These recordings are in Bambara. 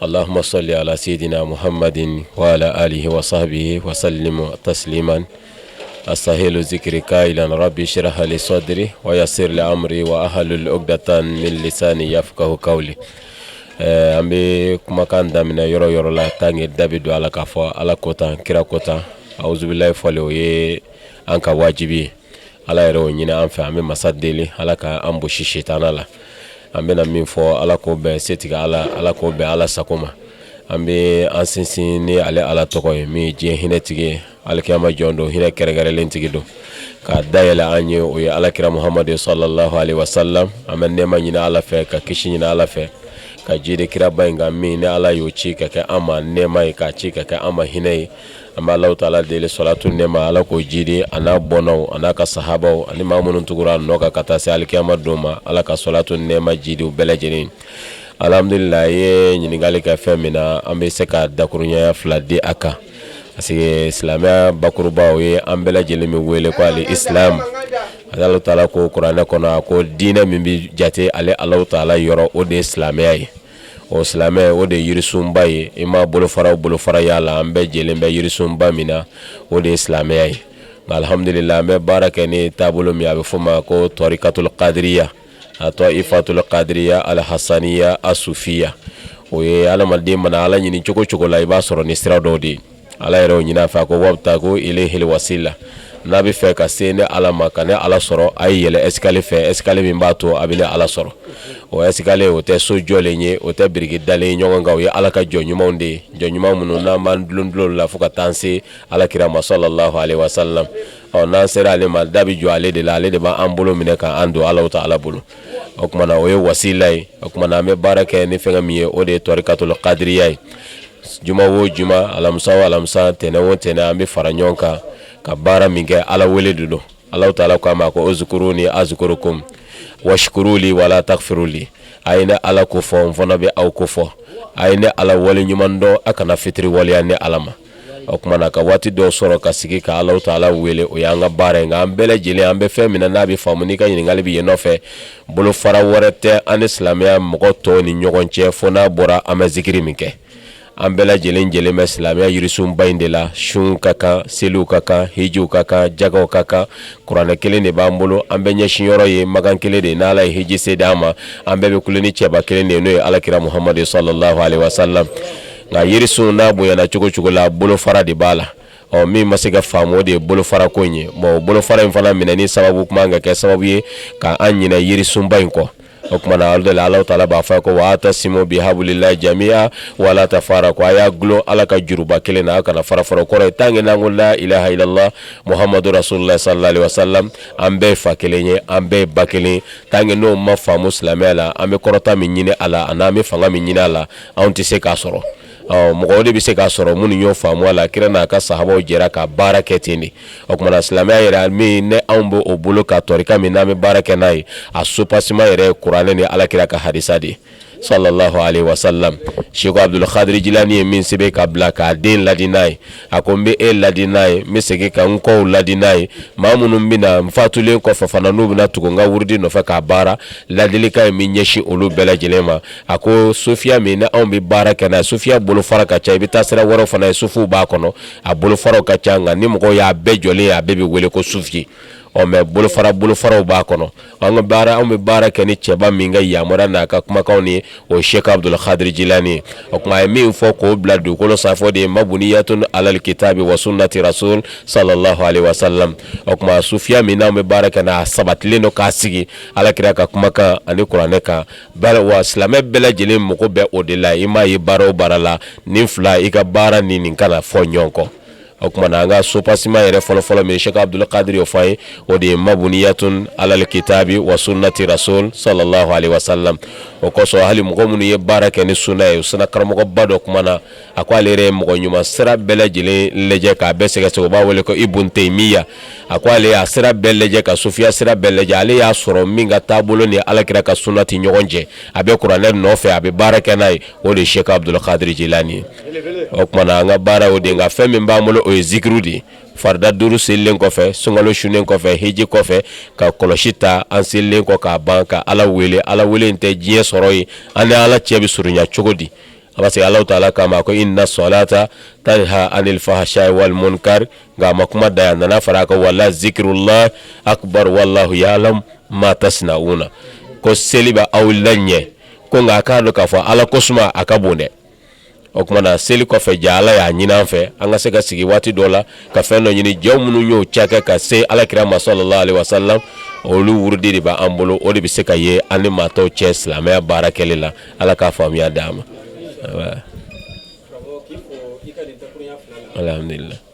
Alahuma sali ala sayidina muhamad wa ala alihi wa sahabihi wa salim taslima astahilu zikiri kailan rabi sirah li sɔdiri wa yasir li amri wahlul ukudatan min lisani yafkahu kawli ɛɛ an bɛ kumakan daminɛ yɔrɔ yɔrɔ la tan kɛ da bɛ don a la k'a fɔ ala ko tɛ kira ko tɛ auzubilahi fɔli o ye an ka wajibi ye ala yɛrɛ y'o ɲini an fɛ an bɛ masa deli ala ka an bɔsi sitanɛ la an bɛna min fɔ ala k'o bɛn setigi ala ala k'o bɛn ala sago ma an bɛ an sinsin ni ale ala tɔgɔ ye min ye diɲɛ hinɛtigi ye alikiyama jɔ don hinɛ kɛrɛnkɛrɛnlen tigi don ka dayɛlɛ an ye o ye alakira muhamadu salalahu alaihi wasalam an bɛ nɛɛma ɲini ala fɛ ka kisi ɲini ala fɛ ka jidi kiraba in kan min ni ala y'o ci ka kɛ an ma nɛɛma ye k'a ci ka kɛ an ma hinɛ ye an bɛ ala taala deli sɔlatu nɛɛma ala k'o jidi an'a bɔnnaw an'a ka sahabaw ani maa minnu tugura a nɔ kan ka taa se alikiyama don ma ala ka sɔlatu nɛɛma jidi bɛɛ lajɛlen alihamudulila a ye ɲininkali kɛ fɛn min na an bɛ se ka dakuruɲa fila di a kan parce que silamɛya bakuruba o ye an bɛɛ lajɛlen min wele ko ali isilamu ala taala ko kuranɛ kɔnɔ a ko diinɛ min bɛ jate ale ala taala yɔrɔ o de ye silamɛya ye ɔ silamɛya o de ye yirisunba ye i maa bolofara o bolofara ye a la an bɛɛ jɛlen bɛ yirisunba min na o de ye silamɛya ye nka alihamudulila an bɛ baara kɛ ni taabolo min a bɛ fɔ o ma ko tɔrikatulu kadiriya atɔifatulu kadiriya alihasaniya asufiya o ye adamaden mana ala ɲini cogo cogo la i b'a sɔrɔ ni sira dɔ de ye ala yɛrɛ y'o ɲini an fɛ a ko wabutagu ilayhi wasila n'a b'a fɛ ka se ne ala ma ka ne ala sɔrɔ a ye yɛlɛ escalier fɛ escalier min b'a to a bɛ ne ala sɔrɔ o escalier o tɛ so jɔlen ye o tɛ biriki dalen ɲɔgɔn kan o ye ala ka jɔn ɲumanw de ye jɔn ɲuman minnu n'an dulon u la fo ka taa se alakira ma salalahu alaihi wasalam ɔ n'an sera ale ma da bɛ jɔ ale de la ale de b'an bolo minɛ k'an don ala taala bolo o tuma na o ye wasila ye o tuma na an bɛ baara kɛ ni fɛn min ye o de ye tɔrikatulu kadiriya ye juma o juma alamisa o alamisa tɛnɛn o tɛnɛn an bɛ fara ɲɔgɔn kan ka baara min kɛ Ala wele de don Alahu taala k'an ma ko uzkuruni azkurukum waskuruli wala takfuruli a ye ne Ala ko fɔ n fana bɛ aw ko fɔ a ye ne Ala waleɲuman dɔn a kana fitiriwaleya ne Ala ma o tuma na ka waati dɔ sɔrɔ ka sigi ka Alahu taala wele o y'an ka baara ye nka an bɛɛ lajɛlen an bɛ fɛn min na n'a bɛ faamu n'i ka ɲininkali bɛ yen nɔ fɛ Bolofara wɛrɛ tɛ an ni silamɛya mɔgɔ tɔw ni ɲɔgɔn cɛ fo n'a bɔra an bɛ zikiri min kɛ an bɛɛ lajɛlen jɛlen bɛ silamɛya yirisunba in de la sun ka kan seliw ka kan hijiw ka kan jagaw ka kan kuranɛ kelen de b'an bolo an bɛɛ ɲɛsin yɔrɔ ye makan kelen de n'ala ye hiji se d'an ma an bɛɛ bɛ kulo ni cɛba kelen de n'o ye alakira muhamadu salalahu alaihi wasalam nka yirisun n'a bonyana cogo cogo la bolofara de b'a la ɔ min ma se ka faamu de ye bolofara ko in ye bon bolofara in fana minɛni sababu o man kan ka kɛ sababu ye ka an ɲinɛ yirisunba in kɔ o tuma na alhamdulilayi ala taala b'a fɔ ko wa atasimu bihablillahi jami'a wala tafarraqu a y'a gulon ala ka juruba kelen na a kana fara fara kɔrɔ ye tant que n'an ko la ilaha illallah muhamadu rasulullah sallallahu alaihi wasallam an bɛɛ fa kelen ye an bɛɛ ba kelen tant que n'o ma faamu silamɛya la an bɛ kɔrɔta min ɲini a la an'an bɛ fanga min ɲini a la anw tɛ se k'a sɔrɔ Mɔgɔw de bɛ se k'a sɔrɔ minnu y'o faamu ala kira n'a ka sahabaw jɛra ka baara kɛ ten de o tuma na silamɛya yɛrɛ min ne anw bɛ o bolo ka tɔrika min n'an bɛ baara kɛ n'a ye a soubassement yɛrɛ kuranɛ ni ala kira ka hadisa de sallallahu alaihi wasallam Sɛki Abuduli kadiri jilaani ye min sɛbɛn ka bila k'a den ladi n'a ye a ko n bɛ e ladi n'a ye n bɛ segin ka n kɔw ladi n'a ye maa minnu bɛ na n fatulen kɔfɛ fana n'u bɛna tugu n ka wurudi nɔfɛ k'a baara ladilikan in bɛ ɲɛsin olu bɛɛ lajɛlen ma a ko sufiya min ni anw bɛ baara kɛ n'a ye sufiya bolofara ka ca i bɛ taa sira wɛrɛw fana ye sufiw b'a kɔnɔ a bolofaraw ka ca nka ni mɔgɔw y'a bɛɛ jɔlen ye a bɛɛ bɛ wele ko sufiya ɔ mais bolofara bolofaraw b'a kɔnɔ An bɛ baara kɛ ni cɛba min ka yamaruya n'a ka kumakanw ye o ye Sɛki Abuduli kadiri jilaani ye, o tuma a ye min fɔ k'o bila dugukolo sanfɛ o de ye mabniyatun alal kitabi wa sunnati rasul sallallahu alaihi wasallam o tuma sufiya min n'an bɛ baara kɛ n'a sabatilen don k'a sigi alakira ka kumakan ani kuranɛ kan bari wa silamɛ bɛɛ lajɛlen mago bɛ o de la i maa ye baara o baara la nin fila i ka baara ni nin kana fɔ ɲɔgɔn kɔ o tuma na an ka soubassement yɛrɛ fɔlɔfɔlɔ min Sɛki Abuduli kadiri y'o fɔ ye o de ye mabniyatun alal kitabi wa sunnati rasul sallallahu alaihi wasallam o kosɔn hali mɔgɔ minnu ye baara kɛ ni sunna ye o sunna karamɔgɔba dɔ kumana a ko ale yɛrɛ ye mɔgɔ ɲuman sira bɛɛ lajɛlen lajɛ k'a bɛɛ sɛgɛsɛgɛ u b'a wele ko Ibn Taymiya a ko ale y'a sira bɛɛ lajɛ ka sufiya sira bɛɛ lajɛ ale y'a sɔrɔ min ka taabolo ni alakira ka sunna tɛ ɲɔgɔn jɛ a bɛ kuranɛ nɔfɛ a bɛ baara kɛ n'a ye o de ye Sɛki Abuduli kadiri jilaani ye o tuma na an ka baara o de nka fɛn min b'an bolo o ye zikiri de ye farida duuru selilen kɔfɛ sunkalo sunnen kɔfɛ hiji kɔfɛ ka kɔlɔsi ta an selilen kɔ k'a ban ka ala wele ala wele in tɛ diɲɛ sɔrɔ ye an ni ala cɛ bɛ surunya cogo di parce que ala taala k'a ma ko inna salata tanha anil fahsha'i wal munkar nka a ma kuma dan yan a nana fara a kan wala zikrullahi akbar wallahu ya'lamu ma tasna'una ko seli bɛ aw laɲɛ ko nka a k'a dɔn k'a fɔ ala ko suma a ka bon dɛ o tuma na seli kɔfɛ ja ala y'a ɲini an fɛ an ka se ka sigi waati dɔ la ka fɛn dɔ ɲini jɔn minnu y'o ca kɛ ka se alakira ma sallallahu alaihi wasallam olu wurudi de b'an bolo o de bɛ se ka ye an ni maa tɔw cɛ silamɛya baara kɛli la ala k'a faamuya d' an ma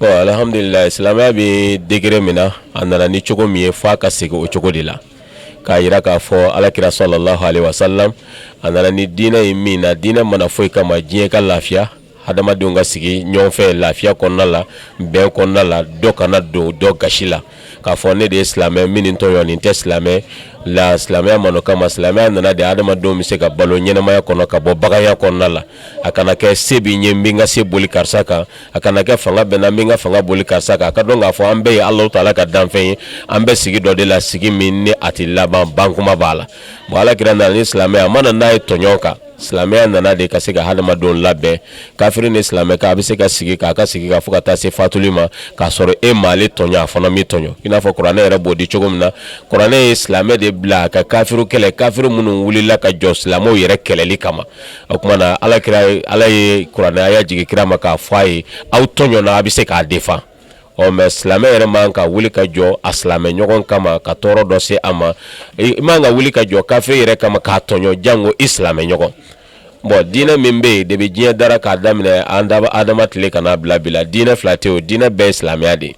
Alihamdulila silamɛya bɛ degere min na a nana ni cogo min ye f'a ka segin o cogo de la k'a yira k'a fɔ alakira salalahu alayi wasalam a nana ni diinɛ ye min na diinɛ ma na foyi kama diɲɛ ka lafiya hadamadenw ka sigi ɲɔgɔnfɛ lafiya kɔnɔna la bɛn kɔnɔna la dɔ kana don dɔ gasi la k'a fɔ ne de ye silamɛ n bɛ nin tɔɲɔ nin tɛ silamɛ la silamɛya ma n'o kama silamɛya nana de hadamadenw bɛ se ka balo ɲɛnamaya kɔnɔ ka bɔ baganya kɔnɔna la a kana kɛ se bɛ n ye n bɛ n ka se boli karisa kan a kana kɛ fanga bɛ n na n bɛ n ka fanga boli karisa kan a ka dɔn k'a fɔ an bɛɛ ye alahu taala ka danfɛn ye an bɛ sigi dɔ de la sigi min ni a tɛ laban bankuma b'a la bon alakira nana ni silamɛya a ma na n'a ye tɔɲɔ kan silamɛya nana de ka se ka hadamadenw labɛn kafiri ni silamɛ k'a bɛ se ka sigi k'a ka sigi kɛ fo ka taa se fatuli ma k'a sɔrɔ e m'ale tɔɲɔ a fana m'i tɔɲɔ i n'a fɔ kuranɛ yɛrɛ b'o di cogo min na kuranɛ ye silamɛ de bila ka kafiri kɛlɛ kafiri minnu wulila ka jɔ silamɛw yɛrɛ kɛlɛli kama o kuma na ala kira ala ye kuranɛ aya jigin kira ma k'a fɔ a ye aw tɔɲɔna a bɛ se k'a defan ɔ mɛ silamɛ yɛrɛ man ka wuli ka jɔ a silamɛ ɲɔgɔn kama ka tɔɔrɔ dɔ se a ma i man ka wuli ka jɔ kafiri yɛrɛ kama k'a tɔɲɔ janko i silamɛ ɲɔgɔn bon diinɛ min bɛ yen depi diɲɛ dara k'a daminɛ an baba adama tile ka na bila bi la diinɛ fila tɛ o diinɛ bɛɛ ye silamɛya de ye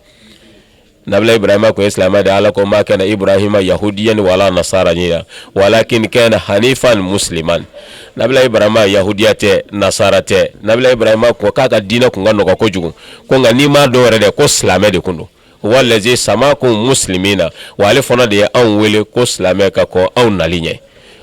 nabila ibrahima kun ye silamɛ de ala ko ma kana ibrahima yahudiyan wala nasaraniyan walakin kana hanifan musliman nabila ibrahima yahudiya tɛ nasara tɛ nabila ibrahima ko k'a ka diinɛ kun ka nɔgɔ kojugu ko nka n'i m'a dɔn yɛrɛ dɛ ko silamɛ de kun don walazi samakumu musilimina wa ale fana de ye anw wele ko silamɛ ka kɔn anw nali ɲɛ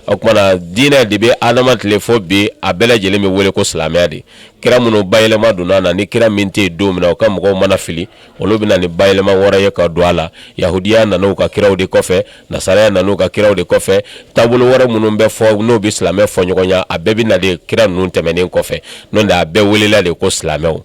o kuma na diinɛ de bɛ adama tile fo bi a bɛɛ lajɛlen bɛ wele ko silamɛya de kira minnu bayɛlɛma donna a la ni kira min tɛ yen don min na u ka mɔgɔw mana fili olu bɛ na ni bayɛlɛma wɛrɛ ye ka don a la yahudiya nana u ka kiraw de kɔfɛ nasaraya nana u ka kiraw de kɔfɛ taabolo wɛrɛ minnu bɛ fɔ n'o bɛ silamɛ fɔ ɲɔgɔnya a bɛɛ bɛ na de kira ninnu tɛmɛnen kɔfɛ n'o tɛ a bɛɛ welela de ko silamɛw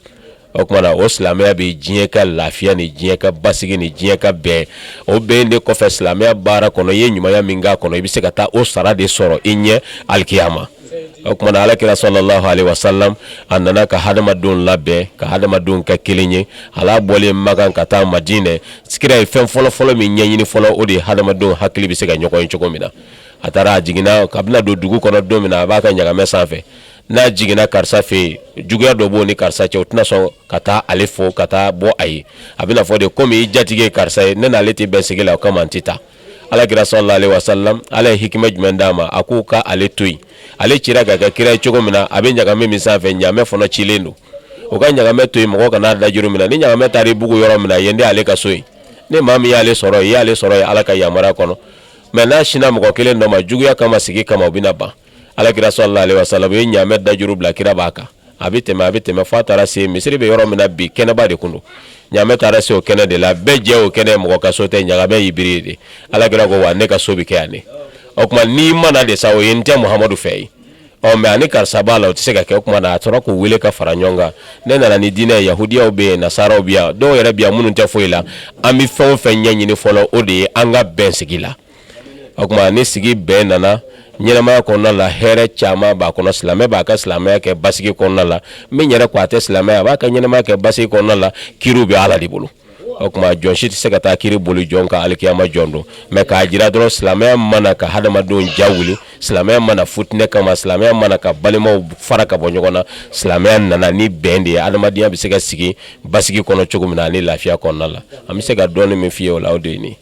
o kuma na o silamɛya bɛ diɲɛ ka lafiya ni diɲɛ ka basigi ni diɲɛ ka bɛn o bɛn de kɔfɛ silamɛya baara kɔnɔ i ye ɲumanya min k'a kɔnɔ i bɛ se ka taa o sara de sɔrɔ i ɲɛ alikiyama o kuma na alakira salalahu alayi wasalam a nana ka hadamadenw labɛn ka hadamadenw kɛ kelen ye ale bɔlen makan ka taa madinɛ kira ye fɛn fɔlɔfɔlɔ min ɲɛɲini fɔlɔ o de ye hadamadenw hakili bɛ se ka ɲɔgɔn ye cogo min na a taara a jiginna k'a bɛna don dugu kɔnɔ don min na a b'a ka ɲamɛ sanfɛ n'a jiginna karisa fɛ yen juguya dɔ b'o ni karisa cɛ o tɛna sɔn ka taa ale fo ka taa bɔ a ye a bɛna fɔ de komi i jatigi ye karisa ye ne n'ale tɛ bɛn sigi la o kama n tɛ taa alakira salalahu alayi wasalam ala ye hikima jumɛn d'a ma a k'u ka ale to yen ale cira k'a kɛ kira ye cogo min na a bɛ ɲagamɛ min sanfɛ ɲamɛ fana cilen don u ka ɲagamɛ to yen mɔgɔ kana a dajuru minɛ ni ɲagamɛ taara i bugu yɔrɔ min na yen de ale ka so yen ni maa min y'ale sɔrɔ yen i y'ale sɔrɔ yen ala ka yamaruya kɔnɔ mɛ n'a sinna mɔgɔ kelen dɔ ma juguya kama sigi kama u bɛna ban alakira salalahu alayihi wasalamu u ye ɲaamɛ dajuru bila kira b'a kan a bɛ tɛmɛ a bɛ tɛmɛ f'a taara se misiri bɛ yɔrɔ min na bi kɛnɛba de kun don ɲaamɛ taara se o kɛnɛ de la bɛɛ jɛ o kɛnɛ mɔgɔ ka so tɛ ɲaamɛ y'i biri de alakira ko wa ne ka so bɛ kɛ yan ne o tuma ni mana de sa o ye n tɛ muhamadu fɛ yen ɔ mɛ a ni karisa b'a la o tɛ se ka kɛ o kuma na a tora k'u wele ka fara ɲɔgɔn kan ne nana ni diinɛ yahudiyaw bɛ yen nasaraw bi yan dɔw yɛrɛ bi yan minnu tɛ foyi la an bɛ fɛn o fɛn ɲɛɲini fɔlɔ o de ye an ka bɛn sigi la O tuma ni sigi bɛn nana ɲɛnamaya kɔnɔna la hɛrɛ caman b'a kɔnɔ silamɛ b'a ka silamɛya kɛ basigi kɔnɔna la min yɛrɛ ko a tɛ silamɛ a b'a ka ɲɛnamaya kɛ basigi kɔnɔna la kiri bɛ ala de bolo o tuma jɔn si tɛ se ka taa kiri boli jɔn kan alikiyama jɔ don mɛ k'a jira dɔrɔn silamɛya ma na ka hadamadenw ja wuli silamɛya ma na fitinɛ kama silamɛya ma na ka balimaw fara ka bɔ ɲɔgɔn na silamɛya nana ni bɛn de ye adamadenya bɛ se ka sigi basigi kɔnɔ cogo min na ani lafiya kɔnɔna la an bɛ se ka dɔn min fɔ ye o la aw de ɲini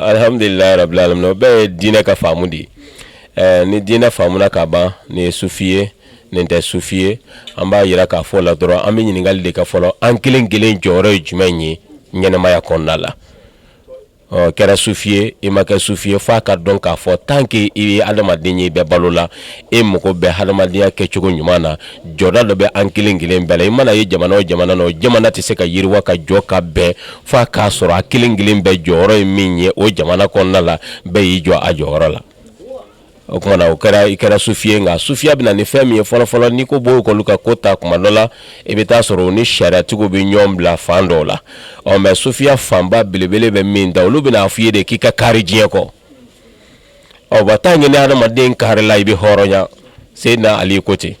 Alihamdulila rabili alamina o bɛɛ ye diinɛ ka faamu de ye ni diinɛ faamuna ka ban nin ye sufi ye nin tɛ sufi ye an b'a jira k'a fɔ la dɔrɔn an bɛ ɲininkali de kɛ fɔlɔ an kelen kelen jɔyɔrɔ ye jumɛn ye ɲɛnɛmaya kɔnɔna la i kɛra sufi ye i ma kɛ sufi ye f'a k'a dɔn k'a fɔ tan k'i ye adamaden ye i bɛ balo la e mago bɛ hadamadenya kɛ cogo ɲuman na jɔda dɔ bɛ an kelen kelen bɛɛ la i mana ye jamana o jamana na o jamana tɛ se ka yiriwa ka jɔ ka bɛn fo k'a sɔrɔ a kelen kelen bɛɛ jɔyɔrɔ ye min ye o jamana kɔnɔna la bɛɛ y'i jɔ a jɔyɔrɔ la o tuma na o kɛra i kɛra sufi ye nka sufiya bɛ na ni fɛn min ye fɔlɔfɔlɔ n'i ko b'o kulu ka ko ta kuma dɔ la i bɛ taa sɔrɔ u ni sariyatigiw bɛ ɲɔgɔn bila fan dɔw la ɔ mɛ sufiya fanba belebele bɛ min da olu bɛna a fɔ i ye de k'i ka kari diɲɛ kɔ ɔ b'a ta ye ni hadamaden karila i bɛ hɔrɔnya seyidina ali ko ten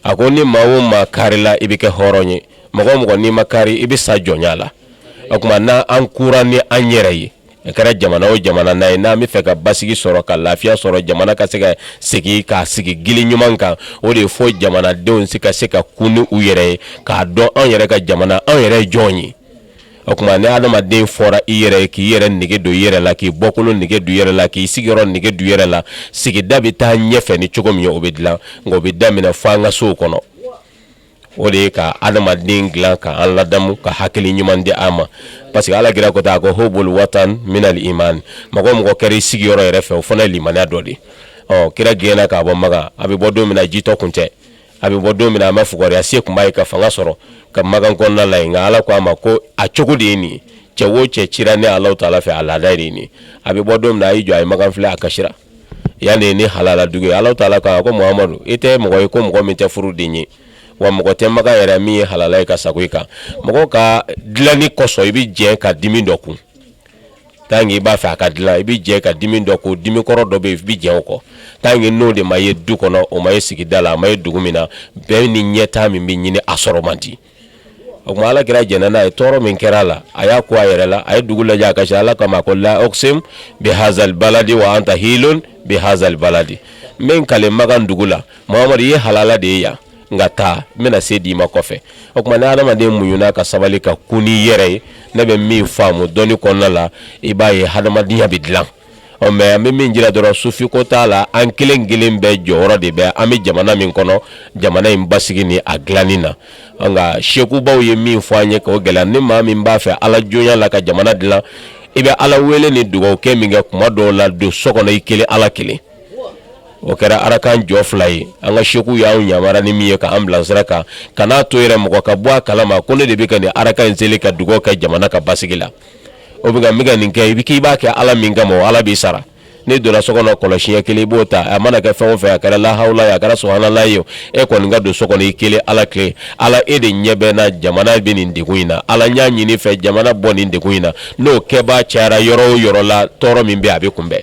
a ko ni maa o maa karila i bɛ kɛ hɔrɔn ye mɔgɔ o mɔgɔ n'i ma kari i bɛ sa jɔnya la o tuma na an kura ni an yɛrɛ ye a kɛra jamana o jamana n'a ye n'an b'a fɛ ka basigi sɔrɔ ka lafiya sɔrɔ jamana ka se ka sigi ka sigi gili ɲuman kan o de ye fo jamanadenw ka se ka kun ni u yɛrɛ ye k'a dɔn an yɛrɛ ka jamana an yɛrɛ ye jɔn ye o tuma ni adamaden fɔra i yɛrɛ k'i yɛrɛ nege don i yɛrɛ la k'i bɔkolo nege don i yɛrɛ la k'i sigiyɔrɔ nege don i yɛrɛ la sigida bɛ taa ɲɛfɛ ni cogo min o bɛ dilan nka o bɛ daminɛ fo an ka sow kɔnɔ o de ye ka adamaden dilan ka an ladamu ka hakili ɲuman di an ma parce que alakira ko tan a ko hubul watan minal iman mɔgɔ mɔgɔ kɛra i sigiyɔrɔ yɛrɛ fɛ o fana ye limaniya dɔ de ɔ kira gɛnna ka bɔ makan a bɛ bɔ don min na jitɔ kun tɛ a bɛ bɔ don min na a ma fugariya se kun b'a ye ka fanga sɔrɔ ka makan kɔnɔna la nka ala ko a ma ko a cogo de ye nin cɛ o cɛ cira ne ala taala fɛ a laada ye nin a bɛ bɔ don min na a y'i jɔ a ye makan filɛ a kasira yan de ye ne halala dugu ye ala taala ko muhamadu e tɛ mɔgɔ ye ko mɔgɔ min tɛ furu den ye wa mɔgɔ tɛ makan yɛrɛ min ye halala ye ka sago i kan mɔgɔ ka dilanni kɔsɔn i bɛ jɛn ka dimi dɔ kun tan i b'a fɛ a ka dilan i bɛ jɛn i ka dimi dɔ kɔ dimi kɔrɔ dɔ bɛ i bɛ jɛn o kɔ tan kɛ n'o de ma ye du kɔnɔ o ma ye sigida la a ma ye dugu min na bɛɛ ni ɲɛtaa min bɛ ɲini a sɔrɔ man di o tuma ala kira jɛnna n'a ye tɔɔrɔ min kɛra a la a y'a ko a yɛrɛ la a ye dugu lajɛ a ka ala kama ko la uksimu bihazal baladi wa anta hilun bihazal baladi n bɛ kali makan dugu la muhamadu ye halala de ye yan nka taa n bɛna se d'i ma kɔfɛ o tuma ni hadamaden muɲuna ka sabali ka kun n'i yɛrɛ ye ne bɛ min faamu dɔnni kɔnɔna la i b'a ye hadamadenya bɛ dilan ɔ mɛ an bɛ min jira dɔrɔn sufiko t'a la an kelen kelen bɛɛ jɔyɔrɔ de bɛ an bɛ jamana min kɔnɔ jamana in basigi ni a dilanni na nka sekubaw ye min fɔ an ye ko gɛlɛya ni maa min b'a fɛ ala jɔnya la ka jamana dilan i bɛ ala wele ni dugawu kɛ min kɛ kuma dɔw la don so kɔnɔ i kelen ala kelen o kɛra arakan jɔ fila ye an ka seku y'anw yamara ni min ye k'an bila sira kan kana to yɛrɛ mɔgɔ ka bɔ a kalama ko ne de bɛ ka nin araka in seli ka dugaw kɛ jamana ka basigi la o bɛ ka ka nin kɛ i bɛ k'i b'a kɛ ala min kama ala b'i sara ne donna so kɔnɔ kɔlɔsiɲɛ kelen i b'o ta a mana kɛ fɛn o fɛn a kɛra lahawla ye a kɛra subhanala ye e kɔni ka don so kɔnɔ i kelen ala kelen ala e de ɲɛ bɛ n na jamana bɛ nin degun in na ala n y'a ɲini i fɛ jamana bɔ nin degun in na n'o kɛbaa cayara yɔrɔ o yɔrɔ la tɔɔrɔ min bɛ a bɛ kunbɛn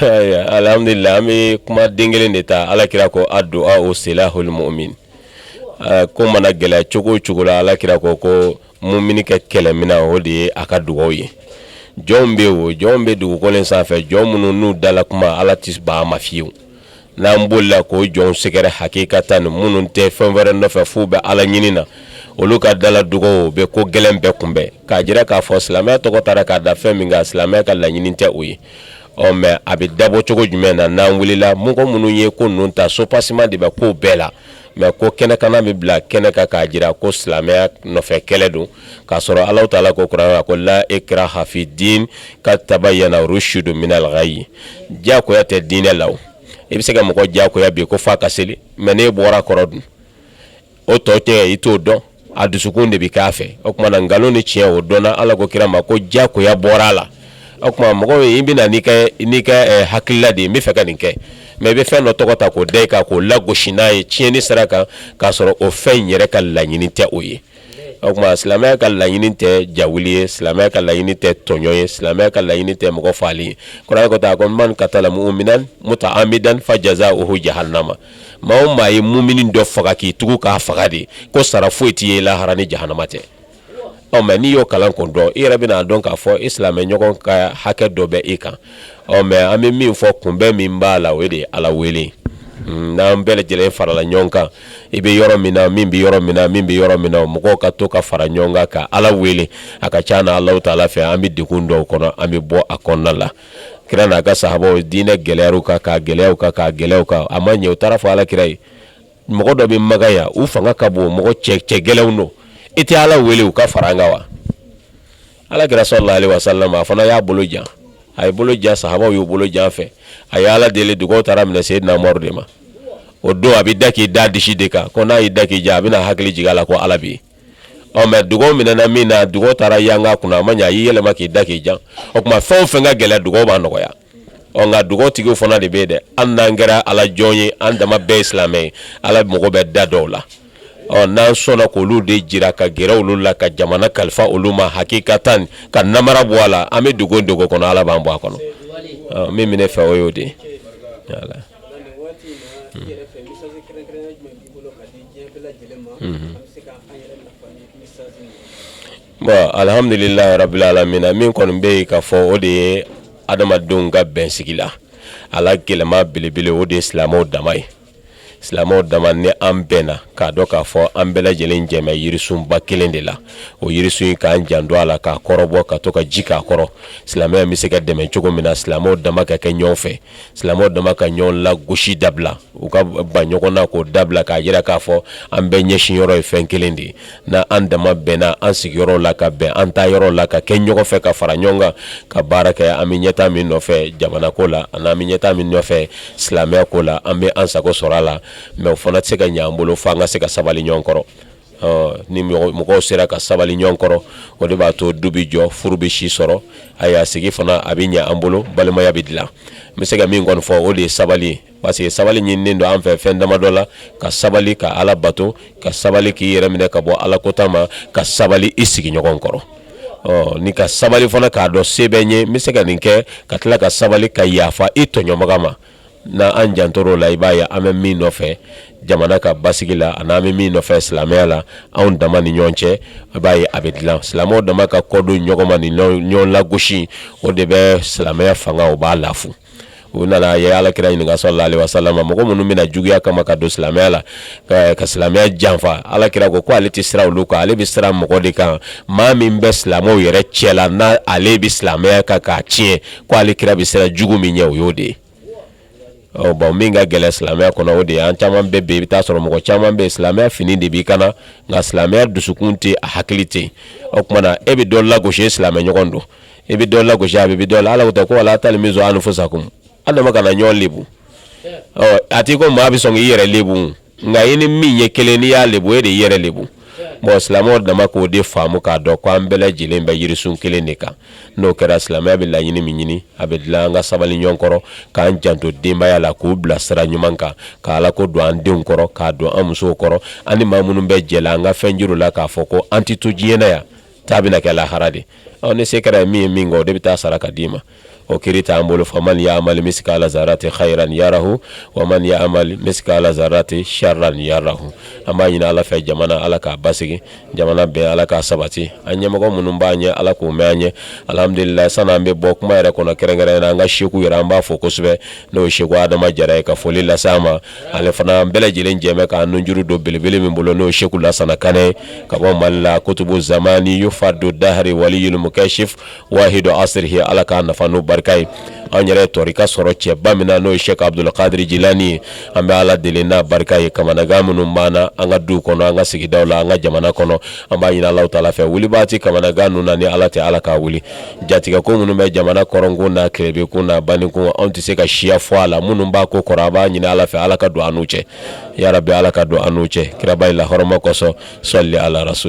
Alhamdulilahi an bɛ kuma den kelen de ta ala kira ko adu'a o silahul mumin ko mana gɛlɛya cogo cogo la ala kira ko ko muminikɛ kɛlɛmina o de ye a ka dugaw ye jɔn bɛ o jɔn bɛ dugukolo sanfɛ jɔn minnu n'u dala kuma ala tɛ ban a ma fiyewu n'an bolila k'o jɔnw sɛgɛrɛ hakikatan minnu tɛ fɛn wɛrɛ nɔfɛ f'u bɛ ala ɲini na olu ka dala dugaw bɛ ko gɛlɛn bɛɛ kunbɛn k'a jira k'a fɔ silamɛya tɔgɔ tara k'a da fɛn min kan silamɛya ka laɲini tɛ o ye ɔ mɛ a bɛ dabɔ cogo jumɛn na n'an wulila mɔgɔ minnu ye ko ninnu ta so pasima de bɛ ko bɛɛ la mɛ ko kɛnɛkana bɛ bila kɛnɛ kan k'a jira ko silamɛya nɔfɛ kɛlɛ don k'a sɔrɔ ala taala ko kuranɛ kɔnɔ la ikraha fi din kad tabayana rusdu minal gayi diyagoya tɛ diinɛ la i bɛ se ka mɔgɔ diyagoya bi ko f'a ka seli mɛ n'e bɔra a kɔrɔ dun o tɔ tɛ i t'o dɔn a dusukun de bɛ k'a fɛ o tuma na nkalon ni tiɲɛ o dɔnna ala ko kira ma ko diyagoya bɔra a la o tuma mɔgɔ ye i bɛna n'i n'i ka eh, hakilila de ye n bɛ fɛ ka nin kɛ mɛ i bɛ fɛn dɔ tɔgɔ ta k'o da a kan k'o lagosi n'a ye tiɲɛni sira kan k'a sɔrɔ o fɛn in yɛrɛ ka laɲini tɛ o ye o tuma silamɛya ka laɲini tɛ jawuli ye silamɛya ka laɲini tɛ tɔɲɔn ye silamɛya ka laɲini tɛ mɔgɔ faali ye kuranɛ ta ko man katala muminan mutaamidan fajazauhu jahanama maa o maa ye mumini dɔ faga k'i tugu k'a faga de ko sara foyi t'i ye lahara ni jahanama tɛ ɔ mɛ n'i y'o kalan k'o dɔn i yɛrɛ bɛna a dɔn k'a fɔ i silamɛ ɲɔgɔn ka hakɛ dɔ bɛ e kan ɔ mɛ an bɛ min fɔ kunbɛn min b'a la o de ye ala wele n'an bɛɛ lajɛlen farala ɲɔgɔn kan i bɛ yɔrɔ min na min bɛ yɔrɔ min na min bɛ yɔrɔ min na mɔgɔw ka to ka fara ɲɔgɔn kan ka ala wele a ka ca na alahu taala fɛ an bɛ degun dɔw kɔnɔ an bɛ bɔ a kɔnɔna la kira n'a ka sahabaw diinɛ gɛlɛyara u kan k'a gɛlɛya u kan k'a gɛlɛya u kan a ma ɲɛ u taara fɔ ala kira ye mɔgɔ dɔ bɛ maka yan u fanga ka bon mɔgɔ cɛ cɛ gɛlɛnw don i tɛ ala wele u ka fara an kan wa ala kira salalahu alayihi wasalam a fana y'a bolo jan a ye bolo jan sahabaw y'u bolo jan fɛ a ye ala deli dugaw taara minɛ seyidina umaru de ma o don a b'i da k'i da disi de kan ko n'a y'i da k'i jan a bɛna hakili jigin a la ko ala bɛ yen ɔ mɛ dugaw minɛna min na dugaw taara yanga kunna a ma ɲɛ a y'i yɛlɛma k'i da k'i jan o tuma fɛn o fɛn ka gɛlɛn dugaw b'a nɔgɔya ɔ nka dugawtigiw fana de bɛ yen dɛ an n'an kɛra ala jɔn ye an dama bɛɛ ye silamɛ ye ala mago bɛ da dɔw la ɔ n'an sɔnna k'olu de jira ka gɛrɛ olu la ka jamana kalifa olu ma hakikatan ka namara bɔ a la an bɛ dogo dogo kɔnɔ ala b'an bɔ a kɔnɔ min bɛ ne fɛ o y'o de ye Bon alihamdulila rabil alamin min kɔni bɛ yen ka fɔ o de ye adamadenw ka bɛn sigi la ala ka nɛɛma belebele o de ye silamɛw dama ye silamɛw dama ni an bɛnna k'a dɔn k'a fɔ an bɛɛ lajɛlen jɛ bɛ yirisunba kelen de la o yirisun in k'an janto a la k'a kɔrɔbɔ ka to ka ji k'a kɔrɔ silamɛya bɛ se ka dɛmɛ cogo min na silamɛw dama ka kɛ ɲɔgɔn fɛ silamɛw dama ka ɲɔgɔn lagosi dabila u ka ban ɲɔgɔn na k'o dabila k'a jira k'a fɔ an bɛɛ ɲɛsin yɔrɔ ye fɛn kelen de ye na an dama bɛnna an sigiyɔrɔ la ka bɛn an taayɔrɔ la ka kɛ ɲɔgɔn fɛ ka fara ɲɔgɔn kan ka baara kɛ an bɛ ɲɛtaa min nɔfɛ jamana ko la ani an bɛ ɲɛtaa min nɔfɛ silamɛya ko la an bɛ an sago sɔrɔ a la mɛ o fana tɛ se ka ɲɛ an bolo fo an ka se ka sabali ɲɔgɔn kɔrɔ ni mɔgɔw sera ka sabali ɲɔgɔn kɔrɔ o de b'a to du bɛ jɔ furu bɛ si sɔrɔ ayiwa sigi fana a bɛ ɲɛ an bolo balimaya bɛ dilan n bɛ se ka min kɔni fɔ o de ye sabali ye parce que sabali ɲininen don an fɛ fɛn dama dɔ la ka sabali ka ala bato ka sabali k'i yɛrɛ minɛ ka bɔ ala kota ma ka sabali i sigiɲɔgɔn kɔrɔ ɔ ni ka sabali fana k'a dɔn se bɛ n ye n bɛ se ka nin kɛ ka tila ka sabali ka yaafa i tɔɲɔbaa ma n' an jantora o la i b'a ye an bɛ min nɔfɛ jamana ka basigi la ani an bɛ min nɔfɛ silamɛya la anw dama ni ɲɔgɔn cɛ i b'a ye a bɛ dilan silamɛw dama ka kɔdon ɲɔgɔn ma ni ɲɔgɔn lagosi o de bɛ silamɛya fanga o b'a lafu u nana ye ala kira ɲininka salalahu alayihi wasalam mɔgɔ minnu bɛna juguya kama ka don silamɛya la ka silamɛya janfa ala kira ko ko ale tɛ siran olu kan ale bɛ siran mɔgɔ de kan maa min bɛ silamɛw yɛrɛ cɛ la n' ale bɛ silamɛya kan k'a tiɲɛ ko ale kira bɛ siran jugu min ɲɛ o y'o de ye ɔ bon min ka gɛlɛn silamɛya kɔnɔ o de ye an caman bɛɛ bɛ i bɛ taa sɔrɔ mɔgɔ caman bɛ silamɛya fini de b'i kan na nka silamɛya dusukun tɛ a hakili tɛ o tuma na e bɛ dɔ lagosi silamɛ ɲɔgɔn don i bɛ dɔ lagosi a bɛ bɛ dɔ la ala ko tɛ ko wala talmizu anfusakum an dama kana ɲɔgɔn lebu ɔ a t'i ko maa bɛ sɔn k'i yɛrɛ lebu nka i ni min ye kelen n'i y'a lebu e de y'i yɛrɛ lebu bon silamɛw dama k'o de faamu k'a dɔn ko an bɛɛ lajɛlen bɛ yirisun kelen de kan n'o kɛra silamɛya bɛ laɲini min ɲini a bɛ dilan an ka sabali ɲɔgɔn kɔrɔ k'an janto denbaya la k'u bila sira ɲuman kan ka ala ko don an denw kɔrɔ k'a don an musow kɔrɔ ani maa minnu bɛ jɛ la an ka fɛn juru la k'a fɔ ko an tɛ to diɲɛ na yan Taa bɛna kɛ lahara de ɔ ni se kɛra min ye min kɛ o de bɛ taa sara ka d'i ma o kiri t'an bolo faman yamali misikala zarati hayiran yarahu wa man yamali misikala zarati siyaran yarahu an b'a ɲini ala fɛ jamana ala k'a basigi jamana bɛɛ ala k'a sabati an ɲɛmɔgɔ minnu b'a ɲɛ ala k'o mɛn an ɲɛ alihamudulila san'an bɛ bɔ kuma yɛrɛ kɔnɔ kɛrɛnkɛrɛn na an ka seku yɛrɛ an b'a fo kosɛbɛ n'o ye seku adama jara ye ka foli lase a ma ale fana an bɛɛ lajɛlen jɛ bɛ k'an nunjuru don belebele min bolo n'o ye Seku Lasana Kanɛ ye ka bɔ Mali la kutubu zamani yufadu dahari waliyul mukasif wahidu asirihi Ala k'an nafa n'o barika ye anw yɛrɛ tɔrika sɔrɔ cɛba min na n'o ye Sɛki Abudul kadiri jilani ye an bɛ Ala deli n'a barika ye kamanagan minnu b'an na an ka duw kɔnɔ an ka sigidaw la an ka jamana kɔnɔ an b'a ɲini Alahu taala fɛ wulibaa tɛ kamanagan ninnu na ni Ala tɛ Ala k'a wuli jatigɛko minnu bɛ jamana kɔrɔnkun na kilebekun na baninkun anw tɛ se ka siya fɔ a la minnu b'a ko kɔrɔ an b'a ɲini ala fɛ ala ka don an n'u cɛ yarabi ala ka don an n'u cɛ kiraba nin lahɔrɔma kosɔn sɔli ala rasul